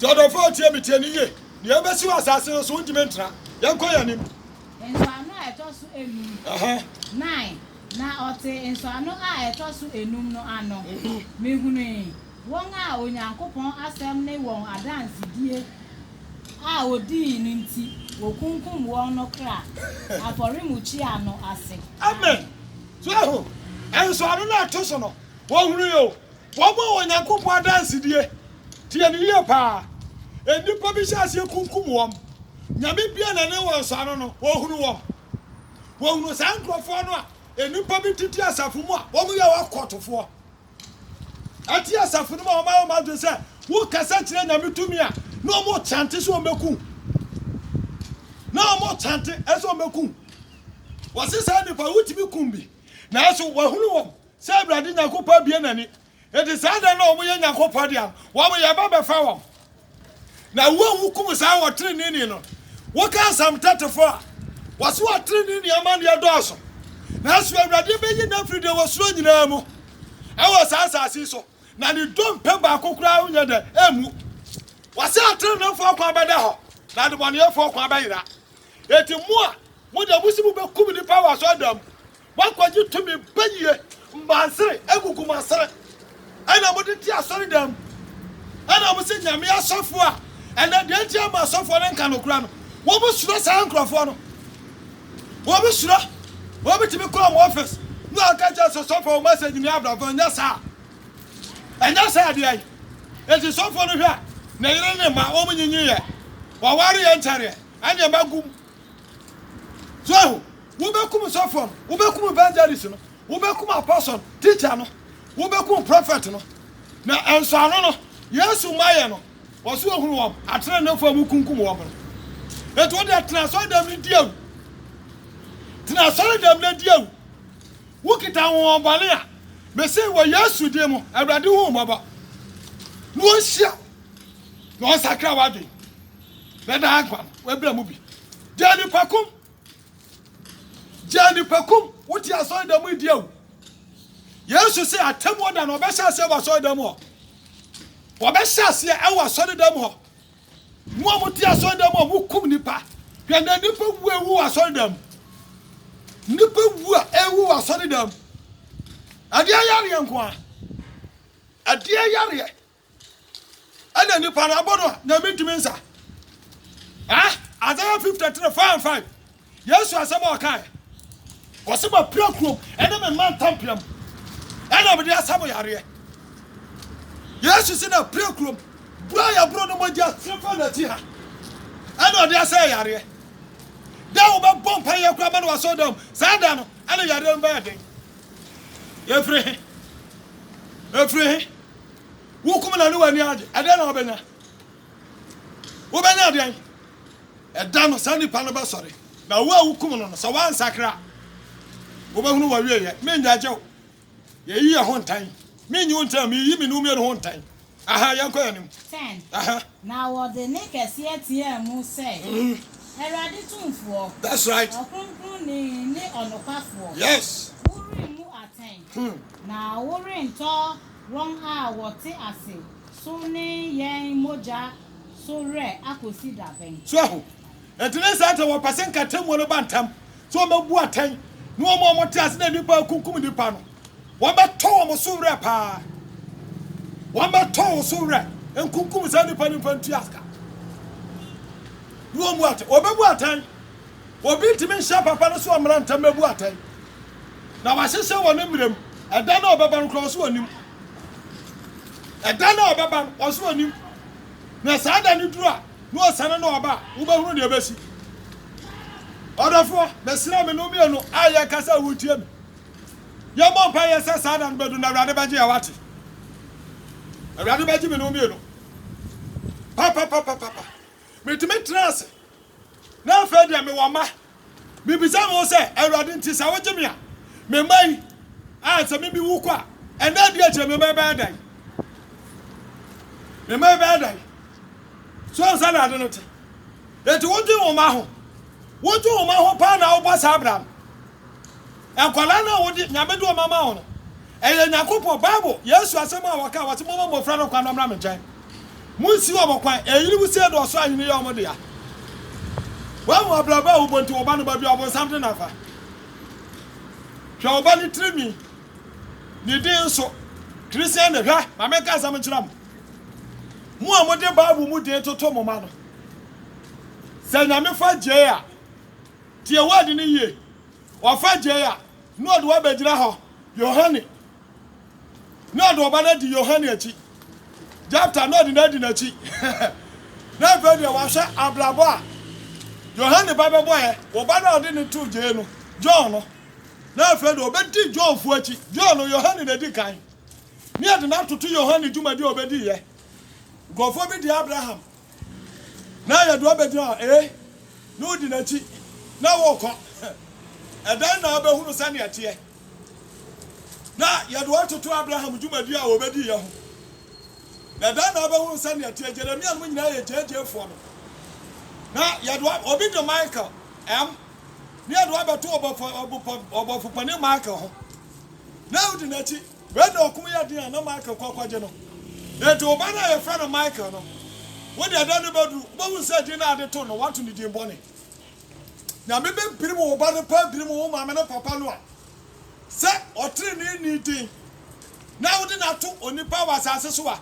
Nti ɔdɔfo a otie me tie no yie. Nea ebesi wɔ asase no so, wontumi ntra. Yɛnkɔ yɛn anim. Nsɔano a ɛtɔ so enum. Aha. Nine, na ɔte nsɔano a ɛtɔ so enum no ano. Mehunui wɔn a Onyankopɔn asɛm ne wɔn adansedie a wɔdii no nti wɔkunkum wɔn no kra afɔremukyia no ase. Amen. So ahu? Nsɔano no a ɛto so no, wɔhunui o, Wɔbɔ Onyankopɔn adansedie. Tie no yie paa. Nnipa bi hyɛ aseɛ kunkum wɔn. Nyame bue n'ani wɔn so ano no, ɔhunu wɔn. Wɔhunu saa nkurɔfoɔ no a, nnipa bi tete asafo mu a wɔyɛ wɔn akɔtofoɔ. Ɛte asafo no mu a wɔayɛ wɔn adwene sɛ wokasa kyerɛ Nyame tumi a, na wɔkyante sɛ wɔbɛku wo. Na wɔkyante sɛ wɔbɛku wo. Wɔse saa nnipa wotumi kum bi. Nanso wɔahunu wɔn. Sɛ Awurade Nyankopɔn abue n'ani, enti saa da no a wɔyɛ Nyankopɔn dea no, wɔyɛ ba bɛfa wɔn. Na wo a wukum saa ɔtreneeni no, woka asɛm tete fo a, wɔse ɔtreneeni amanneɛ dɔɔso. Nanso Awurade bɛyi no afiri deɛ wɔsuro nyinaa mu wɔ saa asase yi so, na ne dompe baako koraa renyɛ dɛ, ɛremmu. Wɔse atreneefoɔ kwan bɛda hɔ, na adebɔneyɛfoɔ kwan bɛyera. Enti mo a mo deɛ mose mobɛkum nnipa wɔ asɔredan mu, Moakɔgye tumi pa yie. Mbansere agugu mo asene. Ɛna mode te asɔredan mu. Ɛna mose Nyame asɔfoɔ a. Ɛnɛ deɛ nti a mo asɔfoɔ no nka nokora no? Wɔsuro saa nkorɔfoɔ no. Wɔsuro. Wɔbɛtumi kɔ wɔn office ne wɔaka kyerɛ sɛ sɔfoɔ wo message ne abrabɔ. Ɛnyɛ saa. Ɛnyɛ saa deɛ. Enti sɔfoɔ no hwɛ a ne yere ne mma wɔn nyinyiiɛ. Wɔwareɛ nkyɛreɛ. Ɛneɛma gu mu. So ehu? Wobɛkum sɔfoɔ no, wobɛkum evangelist no, wobɛkum apostle no, teacher no, wobɛkum prophet no. Na nsɔano no, Yesu ma yɛ no, wɔso ohunu wɔn, atenenefoɔ a wokunkum wɔn no. Enti wo deɛ tena asɔredam no di awu. Tena asɔredam no di awu. Wokita ahohoɔbɔne a, mese wɔ Yesu din mu, Awurade hu mmɔbɔ. Na ɔnhyia, na ɔnsakra w'adwene. Na daa nkwa no, w'abira mu bi. Gyaa nnipa kum. Gyaa nnipa kum. Wote asɔredan mu di awu. Yesu se atemmuo da no ɔbɛhyɛ aseɛ wɔ asɔredan mu hɔ. Wɔbɛhyɛ aseɛ ɛwɔ asɔredan mu hɔ. Mo a mote asɔredan mu a mokum nnipa. Hwɛ na nnipa wu ewu wɔ asɔredan mu. Nnipa wu a ewu wɔ asɔredan mu. Adeɛ yareɛ nko a. Adeɛ yareɛ. Ɛna nipa no abɔ no a na mentumi nsa. Ah, Isaiah 53, 4 and 5. Yesu asɛm a ɔkae. Ɔse mapira kurom ɛne me mma ntampea mu. Ɛna mede asa mo yareɛ. Yesu se na pira kurom. Buro a yɛboro no mogya sere fa n'akyi ha. Ɛna ɔde asɛ yareɛ. Da a wobɛbɔ mpa yɛ kora ma no wasɔ dam. Saa da no, ɛna yareɛ no bɛyɛ den. Ɛfiri he? Ɛfiri he? Wokum no ne w'ani agye, ɛdɛn na wobɛnya? Wobɛnya deɛn? Ɛda no, saa nipa no bɛsɔre, na wo a wokum no no, sɛ woansakra a, wobɛhunu w'awieɛ. Mennyaagye wo. Yɛyi yɛn ho ntan. Mennyi wo ntan. Meyi me ne wo mmienu ho ntan. Aha, yɛnkɔ yɛn anim. Ten. Aha. Na wɔde nne kɛseɛ teaa mu sɛ, Awurade Tumfoɔ. That's right. Ɔkronkronni ne ɔnokwafoɔ. Yes. Woremmu atɛn. Hmm. Na worentɔ. Wɔn a wɔte ase so ne yɛn mogya so werɛ akosi da bɛn? So ahu? Enti ne saa nti na wɔpɛ sɛ nka atemmuo no ba ntɛm, sɛ wɔbɛbu atɛn, ne wɔn a wɔte ase na nnipa rekunkum nnipa no, wɔbɛtɔ wɔn so werɛ pa ara. Wɔbɛtɔ wɔn so werɛ, nkunkum saa nnipa no mfa ntua sika. Ne wɔbu atɛn, wɔbɛbu atɛn. Obi ntumi nhyɛ papa no so mmara ntɛm mmɛbu atɛn. Na wɔahyehyɛ wɔ ne mmerɛ mu. Ɛda no a ɔbɛba no koraa, ɔse ɔnim. Ɛda no a ɔbɛba no, ɔse ɔnim. Na saa da no duru a, na ɔsane na ɔba a, wobɛhunu deɛ ɛbɛsi. Ɔdɔfoɔ, mesrɛ me ne wo mmienu a yɛrekasa a woretie me, yɛmmɔ mpaeɛ sɛ saa da no bɛduru na Awurade bɛgye yɛn, wate? Awurade bɛgye me ne wo mmienu. Papapapapapa. Metumi tena ase. Na afei deɛ mewɔ mma. Mebisa me ho sɛ, Awurade nti, sɛ wogye me a, me mma yi, a sɛ me mewu kɔ a, ɛnnɛ adi akyire me mma yi bɛyɛ dɛn? Me mma yi bɛyɛ dɛn? So nsa na ade no te? Enti wodwen wo mma ho. Wodwen wo mma ho paa na wobɔ saa bra no. Nkwadaa no a wode, Nyame de wɔn ama wo no, ɛyɛ Nyankopɔn, Bible, Yesu asɛm a wɔka a wɔse, Momma mmofra no kwan na wɔmmra me nkyɛn. Munsi wɔn kwan. Eyinom sei na ɔsoro ahenni yɛ wɔn dea. Woahu abrabɔ a wobɔ nti wo ba no baabi a ɔbonsam de no afa. Hwɛ wo ba no tirinwi, ne din nso. Christian de, hwɛ, ma menka asɛm nkyerɛ mo. Mo a mode Bible mu din toto mo mma no, sɛ Nyame fa gyei a, tie word no yie. Wɔfa gyei a, na wɔde wo abɛgyina hɔ, Yohane, na wɔde wo ba no adi Yohane akyi, Jepta, na wɔde no adi n'akyi. Na afei deɛ wɔahwɛ abrabɔ a Yohane ba bɛbɔeɛ, wo ba no a wɔde no too gyei no, John no, na afei deɛ wɔbɛdi Johnfoɔ akyi, John no, Yohane na ɛdi kan, na yɛde no atoto Yohane dwumadie a ɔbɛdiiɛ. Nkurɔfoɔ bi de Abraham Na ayɛ dɛ ɔbɛgyina hɔ, ee, na odi n'akyi, na wɔrekɔ. Ɛdɛn na wobɛhunu sɛnea ɛteɛ? Na yɛde wɔn toto Abraham dwumadi a wɔbɛdiiɛ ho. Na ɛdɛn na wobɛhunu sɛnea ɛteɛ? Jeremia nom nyinaa yɛ gyegyeefoɔ no. Na yɛde wɔn, obi de Michael, M, na yɛde wɔn abɛto ɔbɔfo, ɔbɔfo, ɔbɔfo panin Michael ho, na odi n'akyi. Wei na ɔkum yɛ den a na Michael kɔ akɔgye no. Enti wo ba no a yɛfrɛ no Michael no, wo deɛ da no bɛduru, wobɛhunu sɛ din a wɔde too no, wɔato no din bɔne. Nyame bɛpirim wo ba no paa apirim wo maame ne papa no a sɛ ɔteneneeni den na wode no ato onipa wɔ asase so a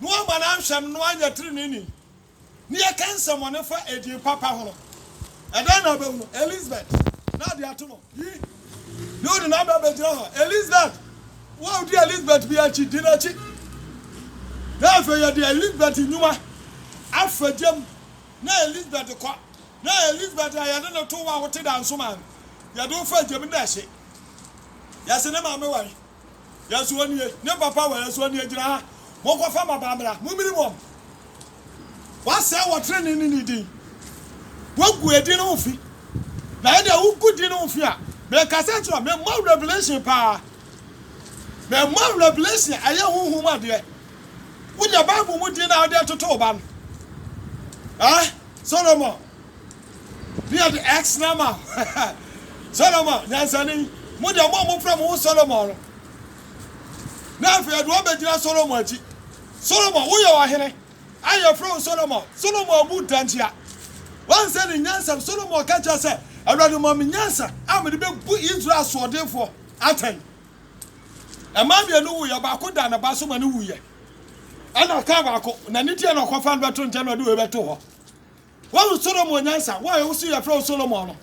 na woamma no anhwɛ no na woanyɛ teneneeni. na yɛka nsɛmmɔne fa edin papa ho no, ɛdɛn na wubehu? Elisabet, na ade ato no. Yi ne wo nenabea begyina hɔ, Elisabet, wo a wudi Elisabet bi akyi, di n'akyi. Na afei yɛde Elisabet nnwuma afa gya mu, na Elisabet kɔ, na Elisabet a yɛde no too wo a wote dansoman no, yɛde wo fa gya mu, na ɛhye. Yɛse ne maame wae. Yɛso ɔnie, ne papa wɔ yɛso ɔnie gyina ha, monkɔfa mmabaa mmra, mommiri wɔn. Wɔasɛe wɔn trenee ne ne din, wɔagu yɛn din no ho fi. Na ɛdeɛ wogu din no ho fi a, mekasa kyerɛ wɔn, mema wo revelation paa. Mema wo revelation a ɛyɛ honhom adeɛ. Wonya Bible mu din no a wode toto wo ba no. Eh, Solomon. Beard X Nama Solomon nyansani, mo deɛ mo a mofrɛ mo ho Solomon no, na afei yɛde wɔn bɛgyina Solomon akyi. Solomon, woyɛ ɔhene a yɛfrɛ wo Solomon. Solomon abu da ntia. Wansɛ ne nyansa. Solomon ka kyerɛ sɛ, Awurade ma me nyansa a mede bɛbu Israel asoɔdenfoɔ atɛn. Mmaa mmienu wuiɛ, baako da ne ba so ma no wuiɛ. Ɛna ɔkaa baako, na ne ti na ɔkɔfa no bɛto nkyɛn na ɔde wei bɛto hɔ. Woahu Solomon nyansa? Wo a ɛwo so yɛfrɛ wo Solomon no.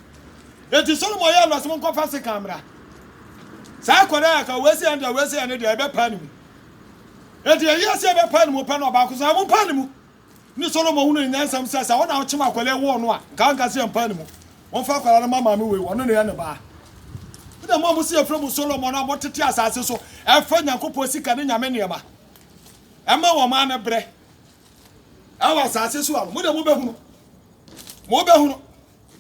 Enti Solomon yɛɛ no ɔsom nkɔfa sekan mmra. Saa akwadaa yi aka, wei sɛ yɛn deɛ, wei sɛ yɛn ne deɛ, yɛbɛpa ne mu. Enti ɛyɛ a sɛ yɛbɛpa ne mu pɛ na ɔbaako sɛ, Mompa ne mu! Ne Solomon hunuu ne nyansam sɛ, sɛ ɔna ɔkyem akwadaa yi woo no a, nka ɔnka sɛ yɛmpa ne mu. Momfa akwadaa no mma maame wei, ɔno na ɛyɛ ne ba. Ɛnna mo a mose yɛfrɛ mo Solomon a motete asase so fa Nyankopɔn sika ne nyame nneɛma ma wɔn a ne berɛ. ɛwɔ asase so a, mo de mobɛhunu. Mobɛhunu.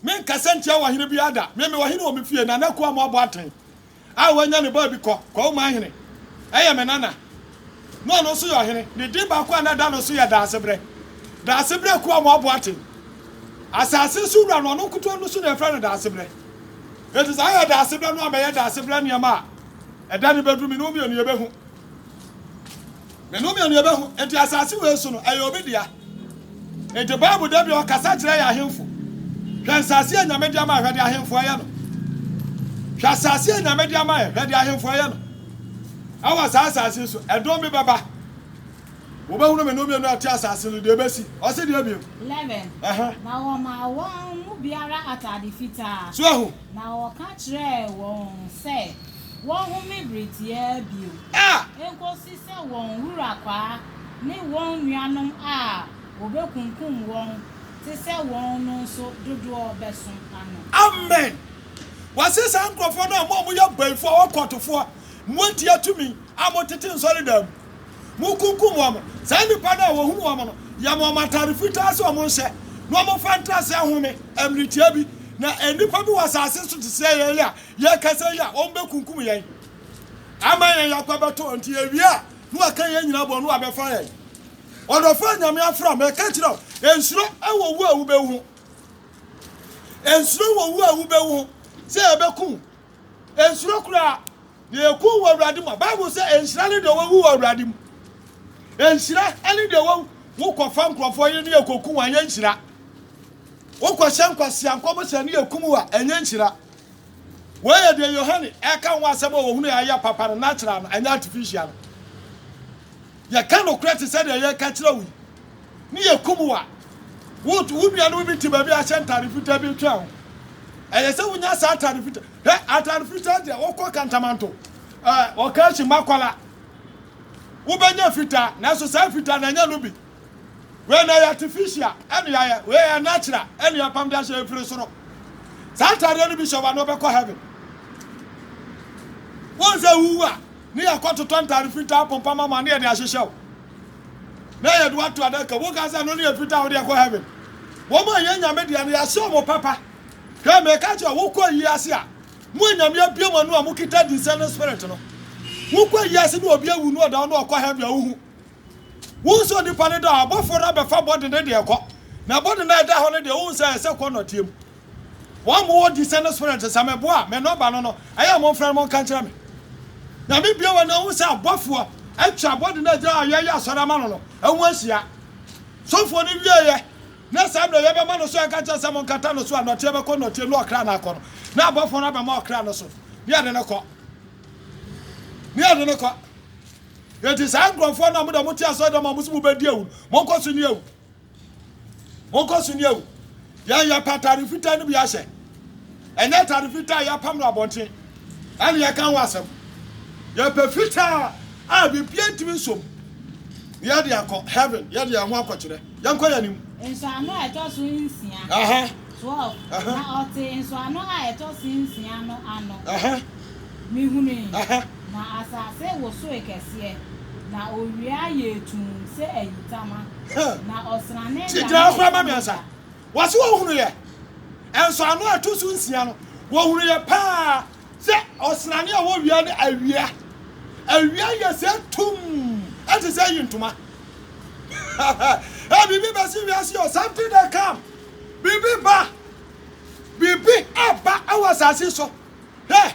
Menkasa ntia wɔ hene biara da. Me mewɔ hene wɔ me fie, Nana Kuaa Moaboateng a wanya ne baabi kɔ Kɔɔman hene. Ɛyɛ me nana. Na ɔno nso yɛ ɔhene. Ne din baako a na ɛda no so yɛ Daasebrɛ. Daasebrɛ Kuaa Moaboateng. Asase so wura no, ɔno nkotoɔ no so na yɛfrɛ no Daasebrɛ. Enti saa yɛ Daasebrɛ no a mɛyɛ Daasebrɛ nneɛma a ɛda no bɛduru me ne wo mmienu yɛbɛhu. Me ne wo mmienu yɛbɛhu. Enti asase wei so no, ɛyɛ obi dea. Enti Bible da bi ɔkasa kyerɛ yɛ ahemfo. Hwɛ nsase a Nyame de ama hwɛ de ahemfo ɛyɛ no. Hwɛ asase a Nyame de ama yɛ hwɛ de ahemfo ɛyɛ no. Ɛwɔ saa asase so, ɛdɔm bi bɛba. Wobɛhunu me ne wo mmienu a ɛte asase no deɛ ɛbɛsi. Ɔse deɛ bio. 11 Ɛhɛn. na wɔmaa wɔn mu biara atade fitaa, So ahu. na wɔka kyerɛɛ wɔn sɛ. Wɔnhome bere tiaa bio, enkosi sɛ wɔn wura kwaa ne wɔn nuanom a wɔbekunkum wɔn te sɛ wɔn no nso dodoɔ bɛso ano. Amen! Wɔse saa nkurɔfoɔ no a mo a moyɛ bayifoɔ, ɔkɔltofoɔ, moatia tumi a motete nsɔredan mu, mokunkum wɔn, saa nnipa no a wɔhunu wɔn no yɛ ma wɔn atade fitaa sɛ wɔn nhyɛ na wɔmfa ntra sɛ home mmere tiaa bi, na nnipa bi wɔ asase so te sɛ yɛn a Yɛ kasa yi a wɔn bɛ kunkum yɛn ama yɛn yakwa bɛ tɔ nti yɛ wie a ne wa ka yɛn nyina bɔ ne wa bɛ fa yɛn ɔdɔfo a nyame afra mɛ ka kyerɛ wo ensuro ɛwɔ wu a wo bɛ wu ho ensuro wɔ wu a wo bɛ wu ho sɛ yɛ bɛ kun ensuro koraa na yɛ kun wɔ awurade mu a bible sɛ enhyira ne deɛ wawu wɔ awurade mu enhyira ɛne deɛ wawu wo kɔ fa nkurɔfoɔ yɛ ne yɛ kɔ kun wɔn yɛ nhyira Wokɔhyɛ nkwasea nkɔm sɛ ɛno yɛ kum wo a, ɛnyɛ nhyira. Wei yɛ deɛ Yohane reka ho asɛm a ɔhunuu a ɛyɛ papa no natural no, ɛnyɛ artificial no. Yɛka nokorɛ te sɛ deɛ yɛreka kyerɛ wo yi, ne yɛkum wo a, wo wo nuanom bi te baabi ahyɛ ntade fitaa bi retwɛn ho. Ɛyɛ sɛ wonya saa atade fitaa. Hɛ atade fitaa deɛ wokɔ kantamanto, ɛɛ ɔkaashi makwala, wobɛnya fitaa, nanso saa fitaa no ɛnyɛ no bi. Wei na ɛyɛ artificial ɛne ayɛ wei ɛyɛ natural ɛne apam de ahyɛ ɛfiri soro saa ataadeɛ no bi hyɛ wa na ɔbɛkɔ heaven wɔn sɛ wuwu a ne yɛ kɔ totɔ ntaade fitaa pompa mama ne yɛ de ahyehyɛ wo na yɛ de wato adaka wo ka sɛ no ne yɛ fitaa wo de ɛkɔ heaven wɔn a yɛ nyame deɛ no yɛahyɛ wɔn papa hwɛ mɛ ɛka kyerɛ wokɔ yi ase a mo anyame abie mo ano a mo kita dinsɛ ne spirit no wokɔ yi ase ne obi awu no ɔda no ɔkɔ heaven a wohu Wohu sɛ onipa no da hɔ a, ɔbɔfoɔ no abɛfa bɔde no de rekɔ. Na bɔde no a ɛda hɔ no deɛ, wohu sɛ ɛyɛ sɛ kɔ nnɔteɛ mu. Wɔn a mowɔ discerning spirit no, sɛ meboa a, me nɔmba no no, ɛyɛ a momfrɛ no monka nkyerɛ me. Nyame bue w'ani na wohu sɛ abɔfoɔ atwa bɔde no a ɛgyina hɔ a yɛyɛ asɔre ama no no ho ahyia. Sɔfoɔ no wieeɛ na saa mmerɛ yɛbɛma no so yɛka kyerɛ sɛ monkata no so a nnɔteɛ bɛkɔ nnɔteɛ mu na ɔkra no akɔ no, na abɔfoɔ no abɛma ɔkra no so na yɛde no kɔ. Na yɛde no kɔ. Enti saa nkurɔfoɔ no a mo deɛ mote asɔredɔm a mose mobɛdi awu no, monkɔ so nni awu. Monkɔ so nni awu. Yɛn yɛpɛ atade fitaa no bi ahyɛ. Ɛnyɛ atade fitaa a yɛapam no abɔnten na yɛka ho asɛm. Yɛpɛ fitaa a biribiara ntumi nso mu na yɛde akɔ heaven, yɛde yɛn ho akɔkyerɛ. Yɛnkɔ yɛn anim. Nsɔano a ɛtɔ so nsia. Aha. Twelve. Aha. Na ɔtee nsɔano a ɛtɔ so nsia no ano. Aha. Mihui. Aha. Na asase wosoe kɛseɛ, na owia yɛɛ tumm sɛ ayitama, Huh. na ɔsrane Tie, danee gyina hɔ koraa ma me ansa. mogya. Wɔse wɔhunuiɛ. Nsɔano a ɛto so nsia no, wɔhunuiɛ paa. Sɛ ɔsrane a wɔwia no awia. Awia yɛ sɛ tum, ɛte sɛ yi ntoma. Ɛ biribi bɛsi wiase o, something that come. Biribi ba, biribi ɛba ɛwɔ asase so. Hɛ,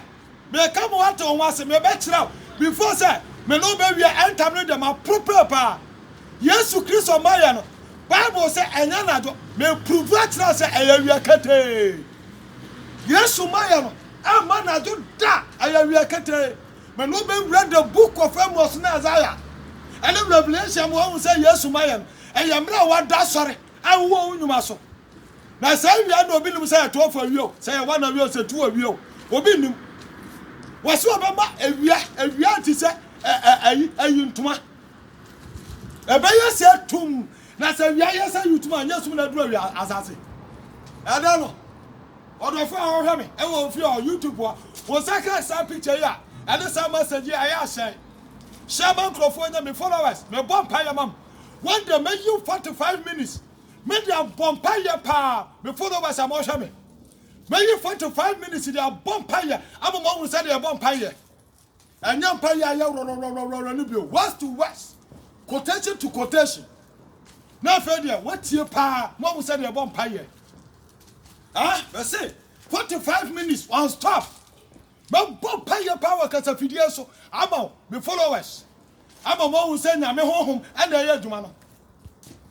meka mo wate wɔn ase, mebɛkyerɛ wo. Before sɛ, me no bɛwia ɛntam no deɛ maporopere paa. Yesu Kristo mayɛ no, Bible sɛ ɛnyɛ nadwo, mepuruvu akyerɛ sɛ ɛyɛ awia ketee. Yesu mayɛ no ɛmma nadwo da ɛyɛ wia ketee mɛne wo bɛwura the book of Amos ne Isaiah ɛne Revelation mu wahu sɛ Yesu mayɛ no ɛyɛ mmerɛ a wada asɔre a wowɔ wo nnwuma so na saa wia no obi nim sɛ yɛto ɔfɔ awie o sɛ yɛwa na awie o sɛ tu awie o obi nnim wɔsi ɔbɛma awia awia te sɛ ɛyi ɛyi ntoma ɛbɛyɛ sɛ tum Na sɛ wia yɛ sɛ yutuma a, nyɛ sum na ɛduru awia asase. Ɛdɛ no, ɔdɔfo a ɔhwɛ me wɔ ofie ɔ YouTube hɔ, wo nsa ka saa picture yi a ɛne saa message yi ɛyɛ a hyɛn. Share ma nkurɔfoɔ nyɛ me followers. Me bɔ mpaeɛ ma mo. One day mɛ yiw 45 minutes me de abɔ mpaeɛ paa me followers a mo hwɛ me. Mɛ yi 45 minutes de abɔ mpaeɛ ama mo ahunu sɛdeɛ yɛ bɔ mpaeɛ. Ɛnyɛ mpaeɛ a ɛyɛ worɔrɔrɔrɔrɔ no bio, words to words, quotation to quotation. Na afei deɛ wotie paa ma ɔhu sɛdeɛ ɛbɔ mpaeɛ. Ah, bɛse 45 minutes on stop. Mɛbɔ mpaeɛ paa wɔ kasafidie so ama wo, me followers. Ama moahu sɛ Nyame Honhom na ɛyɛ adwuma no.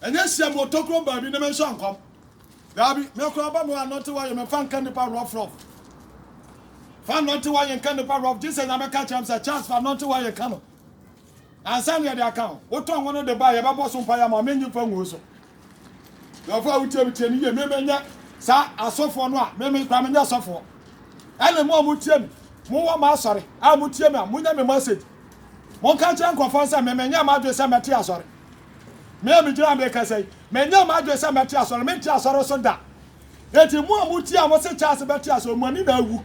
Ɛnyɛ nhyiam wɔ tokurom baabi ne me nso ankɔm. Daabi, me koraa ba mo anɔnte wɔ ye me mfa nka nnipa rough rough. Fa nnɔnte wɔ ye nka nnipa rough gyesɛ Nyame ka kyerɛ me sɛ, Charles fa nnɔnte wɔ ye ka no. Ansa na yɛde aka ho, wotɔn ho no de ba a yɛbɛbɔ so mpaeɛ ama wo, mennye mfa nguo so. Dɔfo a wotie me tie me yie, me menyɛ saa asɔfoɔ no a, me me kora menyɛ sɔfoɔ. Ɛne mo a motie me, mowɔ m'asɔre a motie me a, monyɛ me message. Monka nkyerɛ nkurɔfoɔ no sɛ me menyɛ m'adwene sɛ mɛte asɔre. Me a megyina ha merekasa yi, menyɛ m'adwene sɛ mɛte asɔre, mente asɔre so da. Enti mo a motie a mose Charles bɛte ase o, mo ani na awu.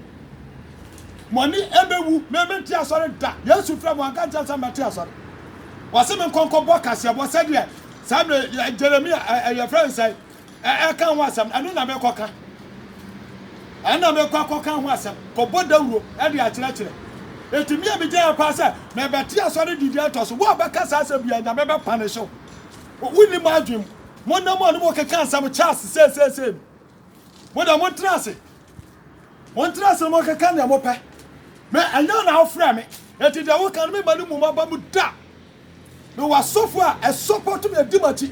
Mo ani ɛbɛwu. Me mente asɔre da. Yesu frɛ mo, wanka nkyerɛ me sɛ mɛte asɔre. Wɔse me nkɔ nkɔbɔ kaseɛbɔ sɛdeɛ saa mmerɛ Jeremia ɛ yɛfrɛ no sɛn ɛ ɛka ho asɛm no, ɛno na mekɔka. Ɛno na mekɔ akɔka ho asɛm, kɔbɔ dawuro ɛde akyerɛkyerɛ. Enti me a megyina ha paa sɛ mebɛte asɔre de di atɔ so, wo a wobɛka saa asɛm biara Nyame bɛpane hyew. Owu nni mo adwene mu. Monna mu a ne mo rekeka asɛm kyɛ ase seeseesei no, mo deɛ montena ase. Montena ase na monkeka deɛ mopɛ. Me, ɛnyɛ wo na wofrɛɛ me, enti deɛ woka no memma no mmu m'aba mu da. Mewɔ asɔfo a ɛsɔpɔto me, ɛdi m'akyi.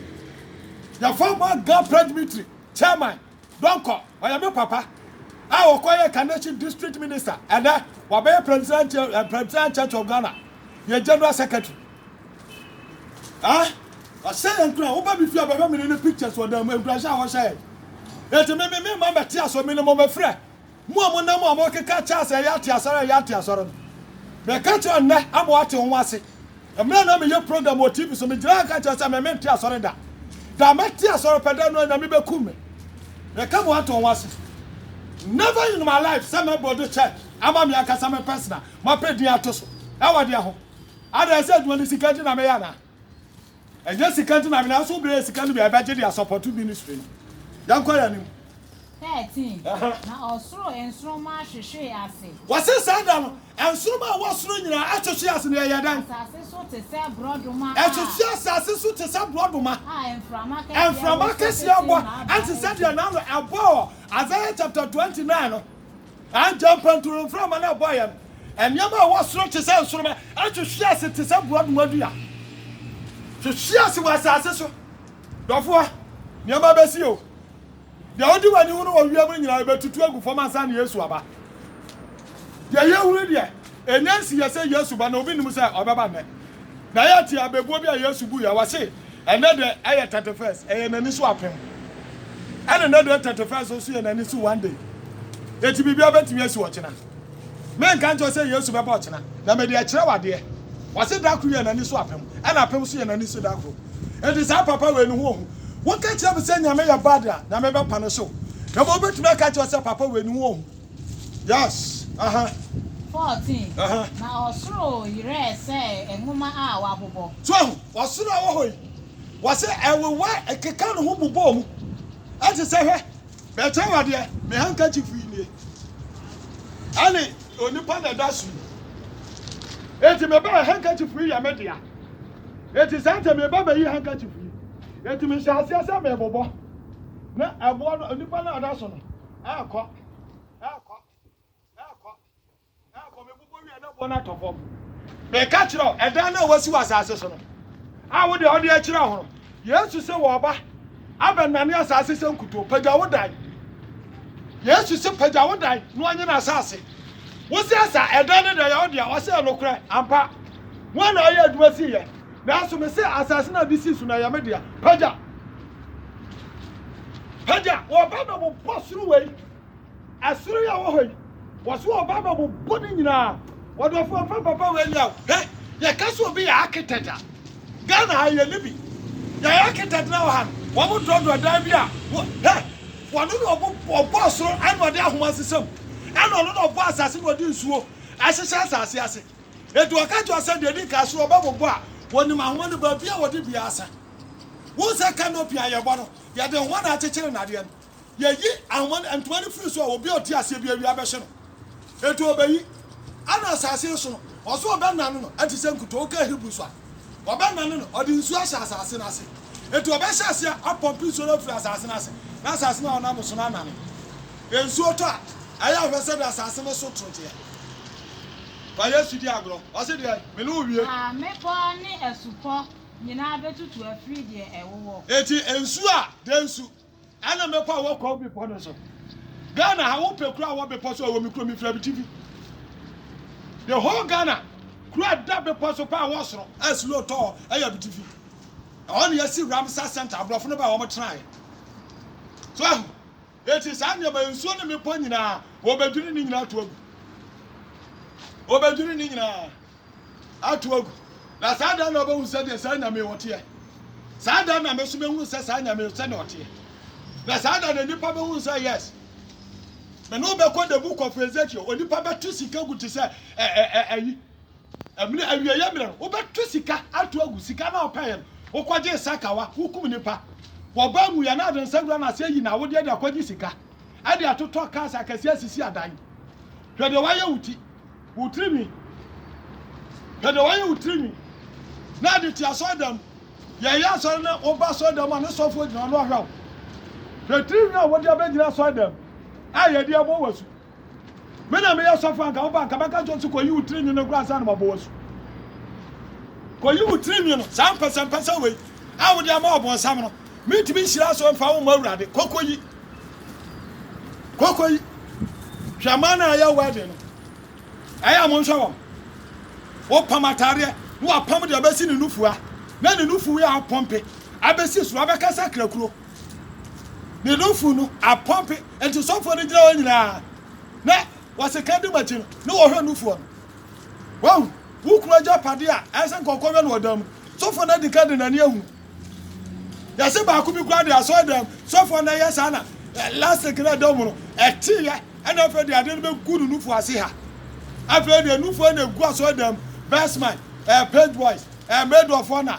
Yɛfrɛ wɔn Agapre Dmitry, Chairman. Donkor, ɔyɛ me papa a ɔkɔyɛɛ Kaneshie District Minister, ɛnnɛ wabɛyɛ Presbyterian Presbyterian Church of Ghana yɛn General Secretary. Ah, ɔhyɛ yɛn nkura, woba me fie a bɛhwɛ me ne ne pictures wɔ dan mu, nkurahyɛ a wɔhyɛ yɛn. Enti me me me mma mmɛte aso, me ne mo mmɛfrɛ. Mo a monam a morekeka akyerɛ sɛ ɛyɛ ate asɔre a ɛyɛ ate asɔre no, mereka kyerɛ nnɛ ama wɔate ho ase. Mmerɛ a na meyɛ program wɔ TV so, megyina ha ka kyerɛ sɛ me mente asɔre da. Da a mɛte asɔre pɛ da no ara Nyame bɛkum me. Mereka mo ato ho ase. Never in my life sɛ mɛ build church ama me ankasa me personal, mapɛ din ato so. Ɛwɔ deɛ ho? Adɛn sɛ adwuma ne sika nti na meyɛ anaa? Ɛnyɛ sika nti na nyinaa so bɛyɛ sika no bi a ɛbɛgye de asɔpɔto ministry no. Yɛnkɔ yɛn anim. 13 na ɔsoro nsoromma hwehwee ase. Wɔse saa da no nsoromma a ɛwɔ soro nyinaa hwehwee ase na ɛyɛɛ dɛn? Asase so te sɛ borɔdoma a. Ɛhwehwee asase so te sɛ borɔdoma. A mframa kɛseɛ wɔ so tete mmaa no. Ɛnte sɛ deɛ n'ano ɛbɔ wɔ Isaiah chapter 29 no. Ankyɛ mpanturu mframa no bɔeɛ no, nneɛma a ɛwɔ soro te sɛ nsoromma hwehwee ase te sɛ borɔdoma dua hwehwee ase wɔ asase so. Dɔfoɔ, nneɛma bɛsi o. Deɛ wode w'ani hunu wɔ wiem no nyinaa ɛbɛtutu agu fam ansa na Yesu aba. Deɛ yɛhunu deɛ, Ɛnyɛ nsiyɛ sɛ Yesu ba na obi nnim sɛ ɔbɛba nnɛ. Na ɛyɛ te abebuo bi a Yesu buiɛ, ɔse, Ɛnnɛ dɛ ɛyɛ thirty first, ɛyɛ n'ani so apem. Ɛna ɛnnɛ dɛ thirty first nso yɛ n'ani so one day. Enti biribiara bɛtumi asi ɔkyena. Menka nkyerɛ wo sɛ Yesu bɛba ɔkyena, na mede akyerɛ wo adeɛ. Ɔse da koro yɛ n'ani so apem, ɛna apem nso yɛ n'ani so da koro. Enti saa papa wei ne ho ɔhu. Woka kyerɛ me sɛ Nyame yɛ bad a, Nyame bɛpa no hyew. Na mmom wobɛtumi aka akyerɛ wo sɛ papa wei ne ho ɔhu. Yas, aha. 14, aha. Na ɔsoro yerɛɛ sɛ nwoma a wɔabobɔ. So ahu? Ɔsoro a ɛwɔ hɔ yi, wɔse ɛwewɛ, ɛkeka ne ho bobɔɔ mu. Ɛte sɛ, hwɛ, merekyerɛ wo adeɛ, me handkerchief yi nie, ɛne onipa na ɛda so yi. Enti mebɛɛ handkerchief yi yɛ me dea. Enti saa nti meba bɛyi handkerchief yi. Enti mehyɛ aseɛ sɛ merebobɔ, na ɛboɔ no, onipa no a ɔda so no. Ɛɛkɔ, ɛɛkɔ, ɛɛkɔ, ɛɛkɔ, mebobɔ wie na boɔ no atɔ fam. Meka kyerɛ wo, ɛdan no a wasi wɔ asase so no, a wo deɛ wode akyerɛ ho no, Yesu se wɔba abɛnane asase sɛ nkutoo. Pagya wo dan. Yesu se pagya wo dan na ɔnye no asase. Wo sɛ sa, ɛdan no deɛ yɛ wo deɛ, ɔsɛ ɛnokorɛ, ampa. Wɔn na ɔyɛ adwuma sii yɛ. Nanso mese, asase no a wɔde sii so no, ɛyɛ me dea. Pagya! Pagya! Wɔreba abɛbobɔ soro wei, ɛsoro yi a ɛwɔ hɔ yi, wɔso wɔreba abɛbobɔ ne nyinaa. Ɔdɔfoɔ, mfa papa wei nyɛ wo. Hwɛ, yɛka sɛ obi yɛ architect a, Ghana ha yɛnni bi. Yɛn architect no a ɛwɔ ha no, wɔdrɔdrɔ dan bi a, wɔ, hwɛ, wɔno na ɔbo, ɔbɔɔ soro, ɛna ɔde ahoma sesam, ɛna ɔno na ɔbɔɔ asase na ɔde nsuo ɛhyehyɛ asase ase. Enti ɔka kyerɛɛ wɔn sɛ, Deɛ ɛdi kan, sɛ wɔbɛbobɔ a, wɔnim ahoma no baabi a wɔde bue ase. Wohu sɛ kanopi a yɛbɔ no, yɛde nhoma na akyekyere nnadeɛ no. Yɛyi ahoma no, ntoma no firi so a, obi a ɔte aseɛ bi awia bɛhye no. Enti ɔbɛyi. Ɛnna asase no so no, ɔso ɔbɛnane no te sɛ nkutoo. Wokaa Hebri so a, ɔbɛnane no, ɔde nsuo ahyɛ asase no ase. Enti ɔbɛhyɛ aseɛ apɔmpe nsuo no afiri asase no ase, na asase no a ɔnam so no anane. Nsuo tɔ a, ɛyɛ ahwɛsɛdeɛ asase no so toroteɛ. Fa Yesu di agorɔ. Ɔse deɛ, me ne wo wie. Na mmepɔ ne asupɔ nyinaa bɛtutu afiri deɛ ɛwowɔ. Enti nsu a, deɛ nsu. Ɛna mmepɔ a ɛwɔ kɔɔ bepɔ no so. Ghana ha wo pɛ kuro a ɛwɔ bepɔ so a ɛwɔ me kuro me firi abitifi. The whole Ghana kuro a ɛda bepɔ so paa ɛwɔ soro a snow tɔ hɔ ɛyɛ abitifi. Ɛhɔ na yɛsi Ramsar Center aborɔfo no baa wɔn tenaeɛ. So ahu. Enti saa nneɛma, nsuo ne mmepɔ nyinaa, wɔbɛdwiri ne nyinaa ato agu. Wɔbɛdwiri ne nyinaa ato agu. Na saa da na wɔbɛhu sɛ deɛ saa Nyame ɔteɛ. Saa da na me so mɛhunu sɛ saa Nyame sɛ na ɔteɛ. Na saa da na nnipa bɛhunu sɛ yes, me ne wobɛkɔ the book of Ezekiel. Onipa bɛto sika gu te sɛ ɛyi. Ɛmene awieɛ mmerɛ no wobɛtwe sika ato agu sika no a wopɛeɛ no wokɔgyee sakawa wokum nipa wɔbɔ awuiɛ na wode nsa wura no ase ayi no awodeɛ de akɔgye sika ɛde atotɔ cars akɛseɛ asisi adan hwɛ deɛ wayɛ wo ti wo tiri nwi hwɛ deɛ wayɛ wo tiri nwi na ade te asɔre dɛm yɛyɛ asɔre no woba asɔre dɛm a ne sɔfoɔ gyina ɔno ɔhwɛ wo hwɛ tiri nwi a wode abɛgyina asɔre dɛm a yɛde abɔ wɔ asu Me na meyɛ sɔfo anka wo ba anka mɛka kyerɛ wo sɛ kɔyi wo tiri nwi no koraa ansa na mabɔ w'asu. Kɔyi wo tiri nwi no, saa mpɛsɛmpɛsɛ wei a wode ama ɔbonsam no, mentumi nhyira so mfa wo mmɔ Awurade. Kɔ kɔyi. Kɔ kɔyi. Hwɛ man a ɛyɛ wedding no. Ɛyɛ a monhwɛ wɔn. Wopam ataadeɛ na wapam deɛ ɛbɛsi ne nufua na ne nufu yɛ apɔmpe abɛsi soro abɛkasa krakuro. Ne nufu no apɔmpe, nti sɔfoɔ no gyina hɔ nyinaa na wɔse ka di makyi no ne wɔhwɛ nufoɔ no. Wahu, wo kunu agya pade a ɛsɛ nka ɔkɔhwɛ no ɔdan mu. Sɔfoɔ no adi ka de n'ani ahunu. Yɛse baako bi kura de asɔre dan mu, sɔfoɔ no ɛyɛ saa na lastic no ɛda mu no ɛteeɛ ɛna afei de ade no bɛgu no nufoɔ ase ha. Afei de nufoɔ na ɛgu asɔre dan mu, best man, eh, page boys, eh, maid of honor,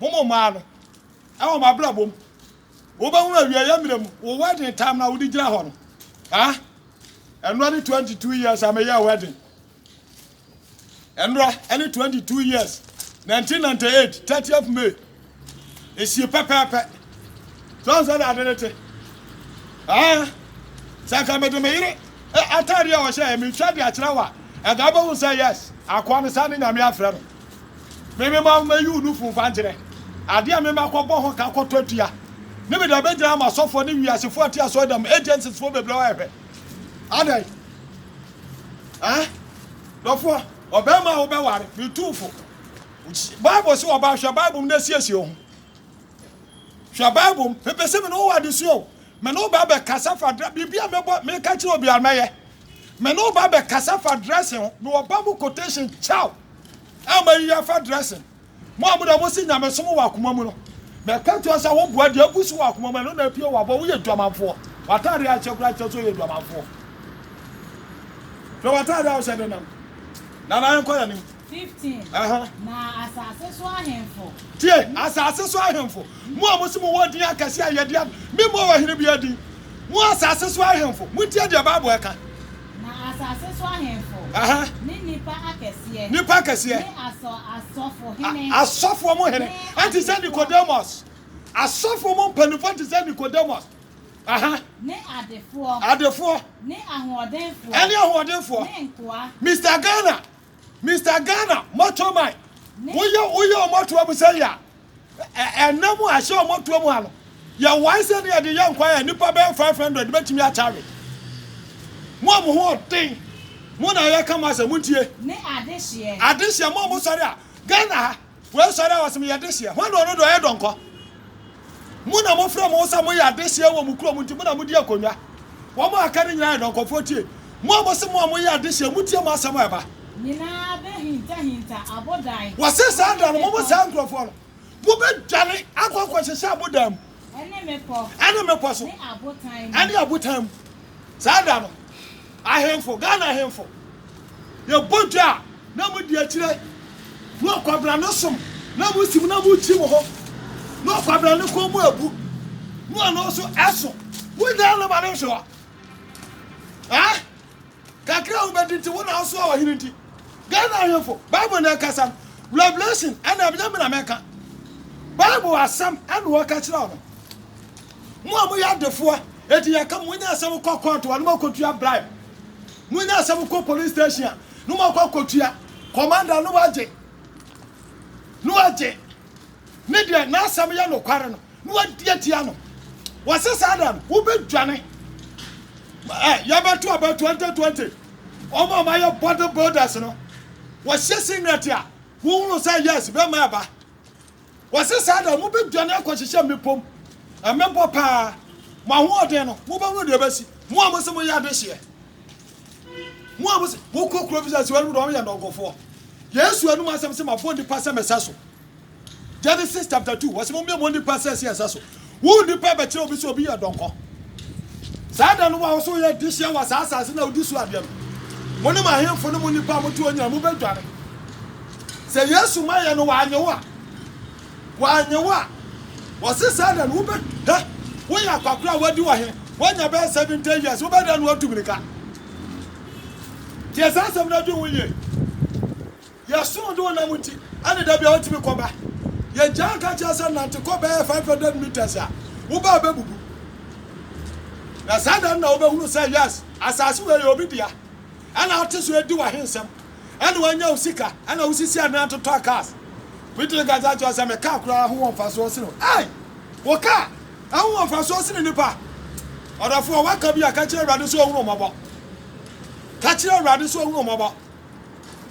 Mo mo mmaa no, wɔ mo abrabɔ mu, wobɛhunu awieɛ mmerɛ mu, wo wedding time no a wode gyina hɔ no, ah, ɛnora ne 22 years a meyɛɛ wedding, ɛnora ɛne 22 years, 1998, 30th May, ɛsie pɛpɛɛpɛ, so ɔn sɛ na ade ne te, ah, sɛ nka mede me yere ataadeɛ a ɔhyɛ yɛ metwa de akyerɛ wa, ɛnka wobɛhu sɛ yes, akoa no saa ne nyame afrɛ no. Me mema wo mɛyi wo nufu mfa nkyerɛ adeɛ a me mɛkɔ bɔ ho ka kɔtɔ atua ne mede abɛgyina ama asɔfoɔ ne wiasefoɔ ati asɔredam agencies foɔ bebree wɔ ɛhwɛ adɛn eh dɔfoɔ ɔbɛrima a wobɛware me tuufo bible sɛ ɔbaa hwɛ bible mu na asiesie ho hwɛ bible mu mepɛ sɛ me ne wo wɔ adesua o me ne wo bɛbɛkasa fa dra biribi a mebɔ meka kyerɛ obiara mɛyɛ Me ne wo ba bɛ kasa fa dressing ho me wɔ ba mu quotation chow a ma yi afa dressing mo a mo da mo si nyame som wɔ akoma mu no mɛ ka tua sa wo boa di agu so wɔ akoma mu no na apie wɔ abɔ wo yɛ dwamanfoɔ watare akyɛ kura kyɛ so yɛ dwamanfoɔ hwɛ watare a wo hyɛ denam na na yɛn kɔ yɛ nim 15 Na asase so ahemfo. Tie, asase so ahemfo, mo a mose mowɔ din akɛse a yɛde ab. Memmɔɔ ɔhene biara din. Mo asase so ahemfo, montie deɛ Bible ka. Na asase so ahemfo. Aha. Ne nnipa akɛseɛ. Nnipa akɛseɛ. Ne asɔ, asɔfo hene. A, asɔfoɔ mo hene. Ɛnte sɛ Nicodemus. Asɔfoɔ mo mpanimfoɔ nte sɛ Nicodemus. Aha. Ne adefoɔ. Adefoɔ. Ne ahoɔdenfoɔ. Ɛne ahoɔdenfoɔ. Ne nkoa. Mister Ghana. Mister Ghana moto man woyɛ woyɛ ɔmo toa mu sɛ ya ɛnam a ɛhyɛ ɔmo toa mu ha no yɛ wae sɛ ne yɛde yɛ nkwa yɛ nipa bɛyɛ five hundred bɛtumi atare mo a mo ho ɔden mo na yɛ ka mo asɛ mo ntie adehyeɛ mo a mo sɔre a Ghana ha Wei sɔre a ɔsem yɛ dehyeɛ. Hwan na ɔno deɛ ɔyɛ dɔnkɔ? Mo na mo frɛ mo ho sɛ mo yɛ adehyeɛ wɔ mo kurom nti mo na mo di akonnwa. Wɔn a aka no nyinaa yɛ dɔnkɔfoɔ tie. Mo a mo se mo a mo yɛ adehyeɛ mo tie mo asɛm a ɛba. Nyinaa bɛ hinta hinta abodan. Wɔse saa da no mo mo saa nkurɔfoɔ no mo bɛ dwane akɔ akɔ hyehyɛ abodan mu. ɛne mmepɔ so ɛne abotan mu saa da no ahemfo ghana ahemfo yɛbɔ dwa a na mo di akyire na ɔkwabena no som na mo sim na mo kyi mo ho na ɔkwabena no kɔn mu abu na ɔno nso ɛso wonya no ma no nhwɛ hɔ Kakra a wobedi nti wo na wosoa ɔhene nti. Ghana ahemfo bible na ɛkasa no revelation ɛna ɛbɛyɛ me na mɛka bible asɛm ɛna wɔka kyerɛ no mo a moyɛ adefoɔ ɛti yɛka mo nyɛ sɛ mokɔ court a no mɔkɔtua bribe mo nyɛ sɛ mokɔ police station a no mɔkɔ akɔtua commander no wagye no wagye ne deɛ n'asɛm yɛ nokware no na wadi atia no. Wɔse saa da no wobɛdwane. Ɛ yɛbɛto aba 2020 wɔn a wɔayɛ body builders no wɔhyɛ singlet a wohunu sɛ yes bɛma ɛba. Wɔse saa da no mobɛdwane akɔhyehyɛ mmepɔ mu. Mmepɔ paa mo ahoɔden no mobɛhunu deɛ ɛbɛsi mo a mose moyɛ adehyeɛ. Mo a mose mokɔ kuro bi sɛ sɛ wɔanom deɛ wɔyɛ nnɔnkofoɔ. Yesu anum asɛm sɛ mabɔ nnipa sɛ mɛsɛ so. Genesis chapter 2 wɔsɛ mommyɛ mo nnipa sɛ sɛ ɛsɛ so. Wo nnipa bɛkyerɛ obi sɛ obi yɛ dɔnkɔ. Saa da no wo a wo so woyɛ adehyeɛ wɔ saa asase na wodi so adeɛ no, mo ne mo ahemfo ne mo nnipa a mote hɔ nyinaa mobɛdwane. Sɛ Yesu ma yɛ no wanyɛ wo a, Wɔannye wo a, wɔse sɛɛ na no wobɛ he? Woyɛ akwakora a woadi wɔ he? Woanya bɛyɛ seventy years, wobɛ dɛn na woatu mirika? Tie saa asɛm no na dwen ho yie. Yɛsom de wo nam nti ne da biara wotumi kɔ ba. Yɛgyaa nka kyerɛ sɛ nante kɔ bɛyɛ five hundred metres a, wo baa bɛbubu. Na saa da no na wobɛhunu sɛ yes, asase wei yɛ obi dea. Ɛna wote so edi w'ahensɛm. Ɛna woanya wo sika. Ɛna wosisi adan totɔ cars. Putin kasa kyerɛ wo sɛ me car koraa ho wɔ mfasoɔ sene wo. Ei! Wo car ɛho wɔ mfasoɔ sene nipa. Ɔdɔfoɔ a waka bi a ka kyerɛ Awurade sɛ ɔhunu mmɔbɔ. Ka kyerɛ Awurade sɛ ɔhunu mmɔbɔ.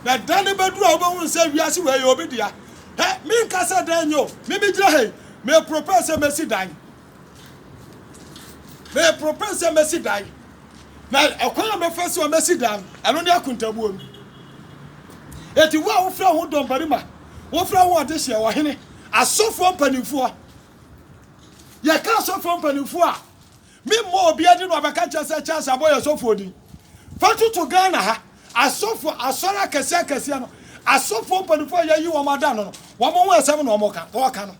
Na ɛda no bɛduru a wobɛhunu sɛ wiase wei yɛ obi dea. Hɛ, menka sɛ dan nyɛ o. Me megyina ha yi, me propose sɛ mɛsi dan. Meporoporoe sɛ mɛsi dan, na ɛkwan a mɛfa so a mɛsi dan no, ɛno ne akontabuo no. Enti wo a wofrɛ ho dɔmbarima, wofrɛ ho ɔdehyeɛ, ɔhene, asɔfoɔ mpanimfoɔ, yɛka asɔfoɔ mpanimfoɔ a, memmɔ obiara din na ɔbɛka kyerɛ sɛ Charles abɔ yɛ sɔfoɔ din. Fa toto Ghana ha, asɔfoɔ, asɔre akɛseɛ akɛseɛ no, asɔfoɔ mpanimfoɔ a yɛayi wɔn ada no no, wɔn ho asɛm na wɔka, wɔka no.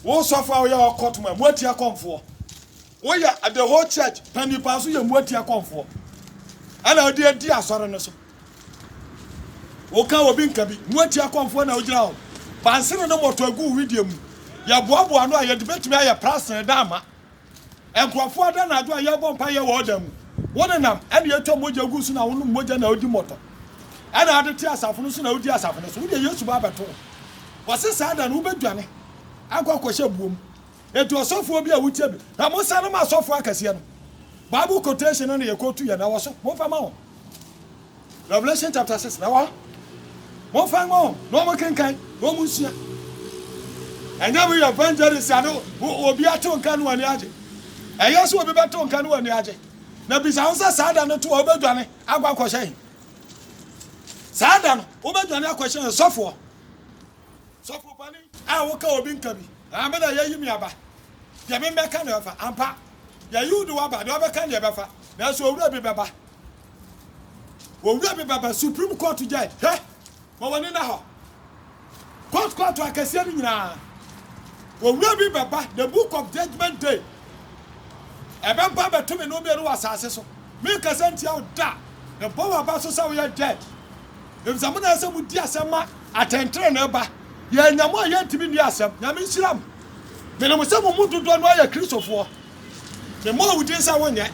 Wo sɔfo a woyɛ ɔkɔtom a moatia kɔmfoɔ. Woyɛ the whole church panyin paa so yɛ moatia kɔmfoɔ. Ɛna wode adi asɔre no so. Woka obi nka bi moatia kɔmfoɔ na wogyina hɔ. Bansene no mmɔtɔ agu wo wedeɛ mu. Yɛboaboa ano a yɛde bɛtumi ayɛ prasene da ama. Nkurɔfoɔ ada anadwo a yɛrebɔ mpaeɛ wɔ ɔdan mu. Wo nenam ɛna yɛtwa mogya gu so na wo nom mogya na wodi mmɔtɔ. Ɛna ade te asafo no so na wodi asafo no so. Wodeɛ Yesu ba abɛto wo. Wɔse saa da no wobɛdwane akɔ akɔhyɛ buo mu. Enti ɔsɔfoɔ bi a wotia bi na mosane ma asɔfoɔ akɛseɛ no. Bible quotation no na yɛkootu yɛ na ɛwɔ so. Momfa ma wɔn. Revelation chapter six na wɔ hɔ. Momfa mma wɔn na wɔnkenkan na wɔnsua. Ɛnyɛ mo yɛ evangelist a na obi atew nka no ani agye. Ɛyɛ sɛ obi bɛtew nka no ani agye. Na bisa ho sɛ saa da no to a wobɛdwane akɔ akɔhyɛ he? Saa da no wobɛdwane akɔhyɛ he? Sɔfoɔ. Sɔfo pani a woka obi nka bi. Ah, me na yɛyi me aba. Deɛ memmɛka na ɛfa. Ampa. Yɛyi wo de waba. Deɛ ɔbɛka deɛ ɛbɛfa. Nanso owura bi bɛba. Owura me baba supreme court gyae hɛ ma wɔne na hɔ court court akɛseɛ no nyinaa owura bi bɛba the book of judgment day ɛbɛba bɛto me no mmienu wɔ asase so menkasa ntia wo da mebɔ wɔ aba so sɛ woyɛ judge ɛfisɛ mo na ɛsɛ mo di asɛm ma atɛntere ne ba yɛanya mo a yɛntumi nni asɛm nyame nhyira mo mene mo sɛ mo mu dodoɔ no ayɛ kristofoɔ Memmɔ wo din sɛ wonyɛ,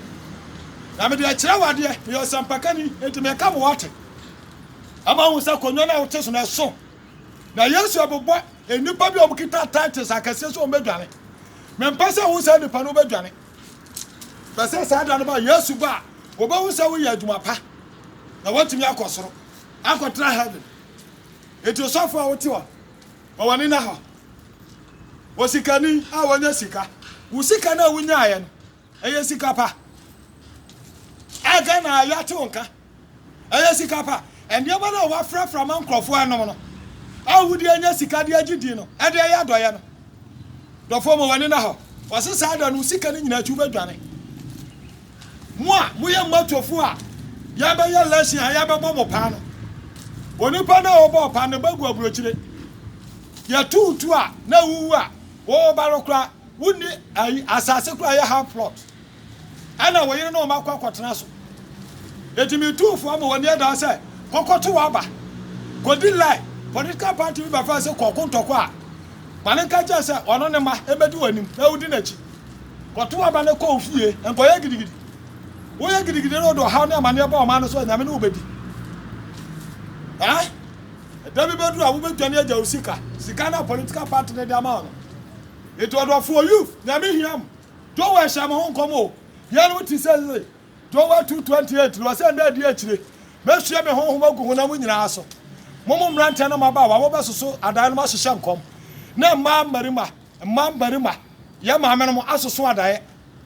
na mede akyerɛ wo adeɛ. Meyɛ ɔsɛmpakani, enti meka ma woate. Ɛma wohu sɛ akonnwa no a wote so no, ɛso. Na Yesu rebobɔ nnipa bi a wɔkita titles akɛseɛ sɛ wɔbɛdwane. Mempɛ sɛ wohu saa nnipa no, wobɛdwane. Pɛ sɛ saa da no ba, Yesu ba a, wɔbɛhu sɛ woyɛ adwuma pa, na woatumi akɔ soro, akɔtena heaven. Enti osɔfo a wote hɔ Bɔ w'ani na hɔ. Osikani a wanya sika. Wo sika no a wonyaeɛ no, ɛyɛ sika pa? A Ghana ha yɛate wo nka. Ɛyɛ sika pa? Nneɛma no a woafrafra ma nkurɔfoɔ anom no, a wode anya sika de agye din no, ɛde ɛyɛ adɔeɛ no? Dɔfoɔ, ma w'ani na hɔ. Wɔse saa da no, wo sika no nyinaa akyi, wobɛdwane. Mo a moyɛ mmatofo a yɛabɛyɛ lesson a yɛabɛbɔ mo paa no, onipa no a wɔbɔɔ paa no bɛgu aburokyire. Yɛto wo tu a na wowu a wɔwɔ ba no koraa wonni ayi asase koraa yɛ half plot ɛna wo yere ne wo mma kɔ akɔtena so. Enti metu wo fo ama w'ani adaa sɛ kɔkɔto w'aba. Kɔdi line political party bi bɛfrɛ sɛ kɔko ntɔkwa a ma no nka kyerɛ sɛ ɔno ne mma ɛbɛdi w'anim na wodi n'akyi. Kɔtow aba na kɔ wo fie. Nkɔyɛ gidigidi. Woyɛ gidigidi na ɔde ɔhaw ne amanneɛ ba ɔman no so a, Nyame ne wo bɛdi. Ɛ? Da bi bɛduru a wobɛdwane agya wo sika. Sika no a political party no de ama wo no. Enti ɔdɔfoɔ youth, Nyame hia mo. Joel hyɛɛ mo ho nkɔm o. Yɛn no wote seesei. Joel 2:28 no, ɔse nna adi akyire, mɛsue me honhom agu honam nyinaa so. Mo mo mmeranteɛ ne mmabaawa, mobɛsoso adan no, moahyehyɛ nkɔm, ne mmaa mmarima, Mma mmarima, yɛn maamenom asoso adaeɛ,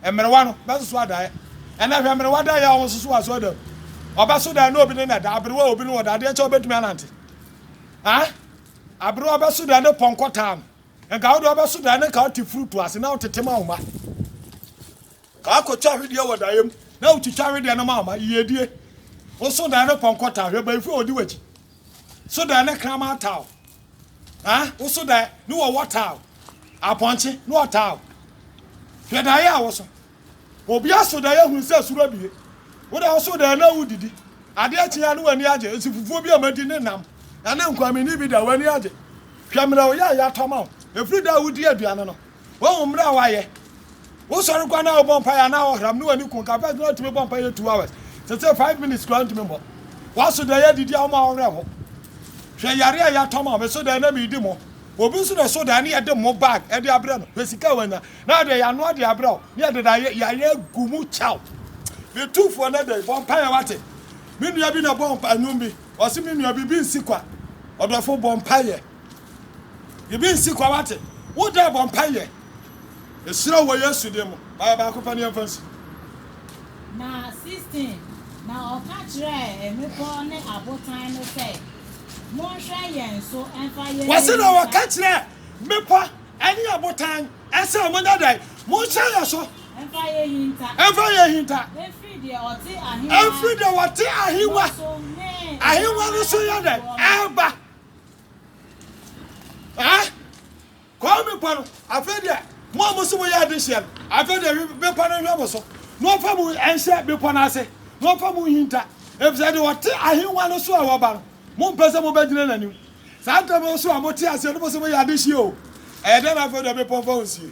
mmerewa no bɛsoso adaeɛ. Ɛnnɛ, hwɛ mmerewa adaeɛ a wɔsoso wɔ asɔredan mu. Ɔbɛso dan na obi ne no ada, aberewa a obi ne no da, adeɛ kyɛ ɔbɛtumi anante? Aa! Aberewa bɛso dan ne pɔnkɔ taa no. Nka wo deɛ wobɛso dan ne nka wote furutu ase na wotete ma wo mma. Akɔtwa hwedeɛ wɔ daeɛ mu, na wotwitwa hwedeɛ no maama, yiedie. Wo so daeɛ no pɔnkɔ taa, hwɛ bayifoɔ a wɔdi w'akyi. So daeɛ no kraman taa wo, ha, wo so daeɛ ne wɔwɔ taa wo, apɔnkye ne wɔtaa wo. Hwɛ daeɛ a wo so. Obiara so daeɛ hunu sɛ soro abue. Wo da wo so daeɛ na wodidi, adeɛ kye a ne w'ani agye, nsi fufuo bi a moadi ne nam, ɛne nkwaminini bi da w'ani agye. Hwɛ mmerɛ woyɛ a yɛatɔ ama wo, ɛfiri da a wodii aduane no. Wahu mmere a wayɛ. Wosɔre koraa na wobɔ mpaeɛ a na ɔhram ne w'ani konka. First na wotumi bɔ mpaeɛ two hours. Sese five minutes koraa ntumi mmɔ. Waso dɛ yɛ didi a wɔn a wɔwerɛ ho. Hwɛ yare a yɛatɔ ma wɔn. Meso dɛ na meredi mo. Obi nso na ɛso dɛ ne yɛde mo bag de abrɛ no. Hwɛ sika a wanya. Na yɛde yɛanoa de abrɛ wo. Ne yɛde da yare agu mu kyɛ wo. Me tumfoɔ na dɛn? Bɔ mpaeɛ wate. Me nua bi na bɔɔ mpaeɛ nnwom bi. Ɔse me nua biribi nsi kwa. Ɔdɔfo bɔ mpaeɛ. Biribi nsi kwa wate. Wo dɛ bɔ mpa yɛ. Ehyira wɔ Yesu din mu. Baayɛ baako pɛ ne yɛmfa nsi. Na 16 na ɔka kyerɛɛ mmepɔw ne abotan no sɛ, Monhwɛ yɛn so mfa yɛn ani nka. Wɔse na ɔka kyerɛɛ mmepɔ ne abotan sɛ, Monyɛ dɛn? Monhwɛ yɛn so. Mfa yɛn nhinta. Mfa yɛn nhinta. Mfiri deɛ ɔte ahengua. Mfiri deɛ ɔte ahengua. No so ne. Ahengua no so yɛ dɛn? Ɛreba. Ah! Kɔɔ bepɔ no, afei deɛ mo a mo so mo yɛ ade hyia no, afei deɛ hwe bepɔ no nhwɛ mo so, na ɔmfa mo nhyɛ bepɔ no ase, na ɔmfa mo nhinta, efisɛ deɛ ɔte ahengua no so a waba no, mompɛ sɛ mobɛgyina n'anim. Saa ntam yi nso a mote aseɛ no mo so mo yɛ ade hyia o, ɛyɛ dɛn na afei deɛ bepɔ mfa wo nsie?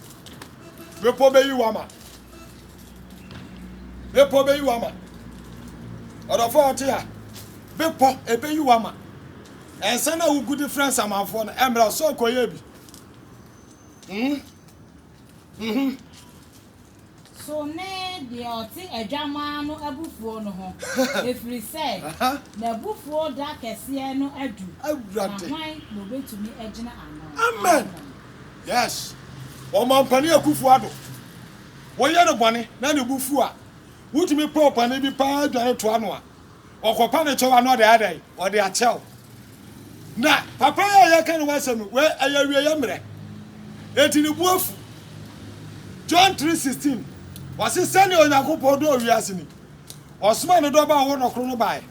Bepɔ bɛyi wo ama. Bepɔ bɛyi wo ama. Ɔdɔfoɔ a ɔte ha, bepɔ ɛbɛyi wo ama. Ɛnsɛ na wogu de frɛ nsamanfoɔ no, ɛmmra sɛ ɔkɔyɛ bi. Mm. Mm -hmm. So ne deɛ ɔte adwamaa no abufuo no ho, ɛfiri sɛ n'abufuo da kɛseɛ no adu, na hwan na ɔbɛtumi agyina ano? Amen. Yes. Wɔn ampani akufoɔ ado. Woyɛ no bɔne na ne bo fuw a, wutumi pɛ ɔpanyin bi paa dwane toa no a, ɔkɔpa ne kyɛw a na ɔde ayɛ dɛn? Ɔde akyɛ wo. Na papa yi a yɛka ne ho asɛm no, wei ɛyɛ awieeɛ mmerɛ, enti ne bo afu. John three sixteen, ɔse, Sɛdeɛ Onyankopɔn dɔɔ wiase ni, ɔsomaa ne Dɔba a ɔwɔ no koro no baeɛ,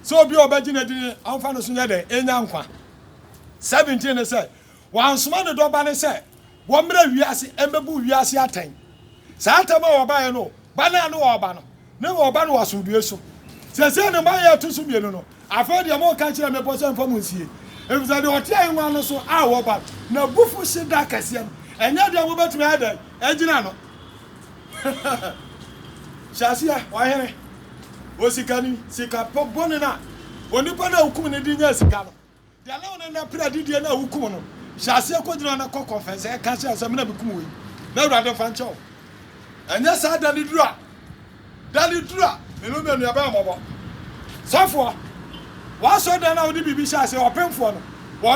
sɛ obi a ɔbɛgye no adi no mfa ne so nyɛ dɛn? Ɛnya nkwa. Seventeen ne sɛ, Wansoma ne Dɔba no sɛ wɔmmrɛ wiase mmɛbu wiase atɛn. Saa atɛm a wɔbaeɛ no, ba no a ne wɔreba no, ne wɔreba no wɔ asomdwoeɛ so. Seesei ne mmaeɛ a ɛto so mmienu no, afei deɛ moreka kyerɛ mmepɔ sɛ mfa mo nsie, ɛfiri sɛ deɛ ɔte ahennwa no so a wɔba n'abufuhye da kɛseɛ no, ɛnyɛ deɛ mobɛtumi ayɛ dɛn agyina ano. Hyɛ aseɛ, ɔhene, osikani, sikapɛ bɔne no a onipa no a wokum no de nyaa sika no. Deɛ na ɔne no pere adedie no a wokum no, hyɛ aseɛ kɔgyina na kɔ kɔnfɛnsɛɛ ka kyerɛ no sɛ, me na mekum wei, na Awurade mfa nkyɛ wo. Ɛnyɛ saa da no duru a, da no duru a, me ne wo baanu yɛbɛyɛ mmɔbɔ. Sɔfoɔ, w'asɔredan no a wode biribi hyɛ aseɛ, ɔpemfoɔ no, wɔ.